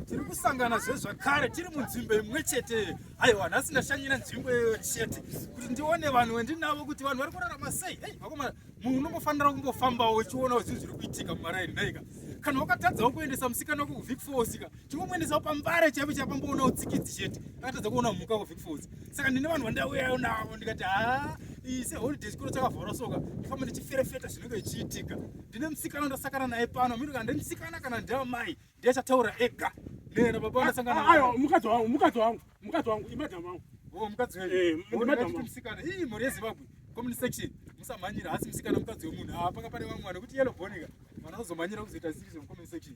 tiri kusangana zvezvakare tiri munzvimbo imwe chete aiwa nhasi ndashanyira nzvimbo iyoyo chete kuti ndione vanhu wendinavo kuti vanhu vari kurarama sei ei vakomana munhu unongofanira kumbofambawo uchionawo zvinhu zviri kuitika mumaraini naika kana wakatadzawo kuendesa musikana wako kuvik fosika chingomuendesawo pambare chaipo chapamboonawo tsikidzi chete akatadza kuona mhuka kuvik fos saka ndine vanhu vandauyayo navo ndikati haa ise holiday chikoro chakavhara soka ndifamba ndichiferefeta zvinenge zvichiitika ndine musikana ndasakana naye pano miri kana ndine musikana kana ndiamai ndiye achataura ega nena baba vandasangana ah, ah, ayo mukadzi wangu mukadzi wangu mukadzi wangu imadhamu wangu o oh, mukadzi wenyu eh, ndimadhamu musikana ii mhuri yezimbabwe comment section musamhanyira hasi musikana mukadzi wemunhu haa panga pane vamwe vanekuti yellow bonika vanozomhanyira kuzoita series of comment section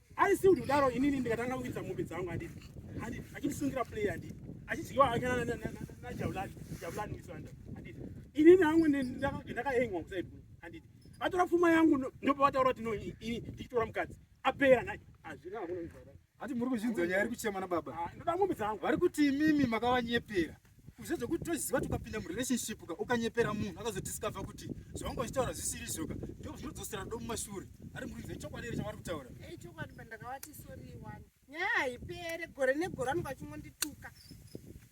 Ari si kuti kudaro inini ndikatanga kukwidza mombe dzangu handiti. Handiti achinisungira play handiti. Achidyiwa hake na na na na Javulani, Javulani Wisanda. Handiti. Inini hangu ndakahengwa kuside bro. Handiti. Atora pfuma yangu ndopa vataura kuti no ini ndichitora mukadzi. Apera naye. Azvina hakuna kuzvara. Hati muri kuzvinzwa nyaya iri kuchema na baba. Ah, ndoda mombe dzangu. Vari kuti imimi makavanyepera. kuzve zvekuti toziva tukapinda murelationship ka ukanyepera munhu akazodiscover kuti zvavanga vachitaura zvisiri izvoka ndo zvinodzosera rudo mumashure ari muridzi ichokwadi here chavari kutaura eh, ichokwadi pandakavati sori wani nyaya haipere gore negore anonga achingondituka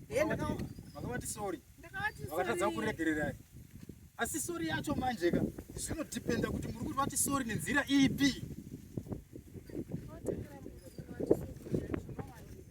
eh, vakavati sori vakatadza kuregererai asi sori yacho manje ka zvinodependa kuti muri kuti vati sori nenzira ipi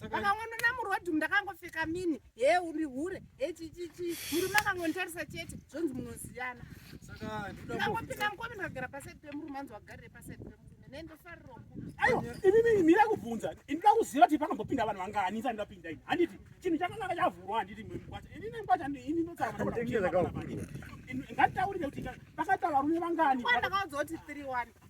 vakangondona muroad ndakangopfeka mini he uri hure he chichichi murume akangonditarisa chete zvonzi munoziyana ndakangopinda mukome ndikagara pasaidi pemurume anzi wagarire pasaidi pemurume inini mira kubvunza ndinoda kuziva kuti panombopinda vanhu vangani isati ndapinda ini handiti chinhu chakanga chavhurwa handiti mkwacha inini mkwacha ini ndotsaanganditaurire kuti pakaita varume vangani ndakaudzwa kuti three one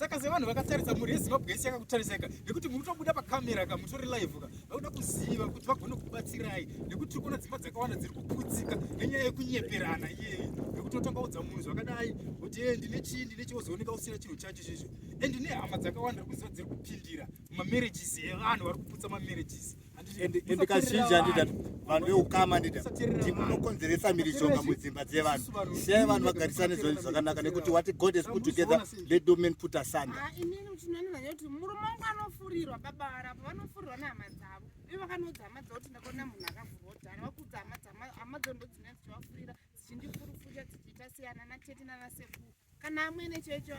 saka sevanhu vakatarisa mhuri yezimbabwe yese yakakutarisaka nekuti munotobuda pakamera ka mutori live ka vakuda kuziva kuti vagone kubatsirai nekuti tiri kuona dzimba dzakawanda dziri kuputsika nenyaya yekunyeperana iyeyi nekuti otanga udza munhu zvakadai kuti e ndine chii ndine chii ozooneka usina chinhu chacho chizvo and nehama dzakawanda ri kuziva dziri kupindira mumamarriages evanhu vari kuputsa mamarriages and kazhinji andida vanhu veukama ndida kuti munokonzeresa mhirizhonga mudzimba dzevanhu siyai vanhu vagarisane zvinhu zvakanaka nekuti wati god is put together let do men put asanda ah, murume wangu anofurirwa baba varapo vanofurirwa nehama dzavo ve vakanoudza hama dzavo kuti ndakaona munhu akavhurwa dhara vakuudza hama dzavo hama dzavo ndodzina dzichivafurira dzichindifurufurira dzichiita siyana natete nanasekuru kana amwene checho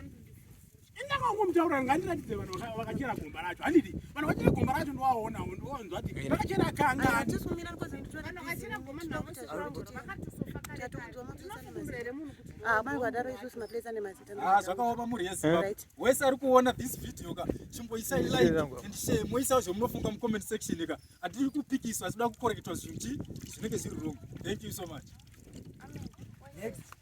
enda kwangu mutaura ngandiratidze vanhu vakachera gomba racho handiti vanhu vakachera gomba racho ndiwaonawo ndiwonzwa ti vakachera kanga ah, zvakaoma mhuri yeziva wese ari kuona this video ka chimboisai like and share moisawo zvamunofunga mucomment section ka hatiri kupikiswa asi da kukoreketwa zvinhu zvinenge zviri wrong thank you so much Next.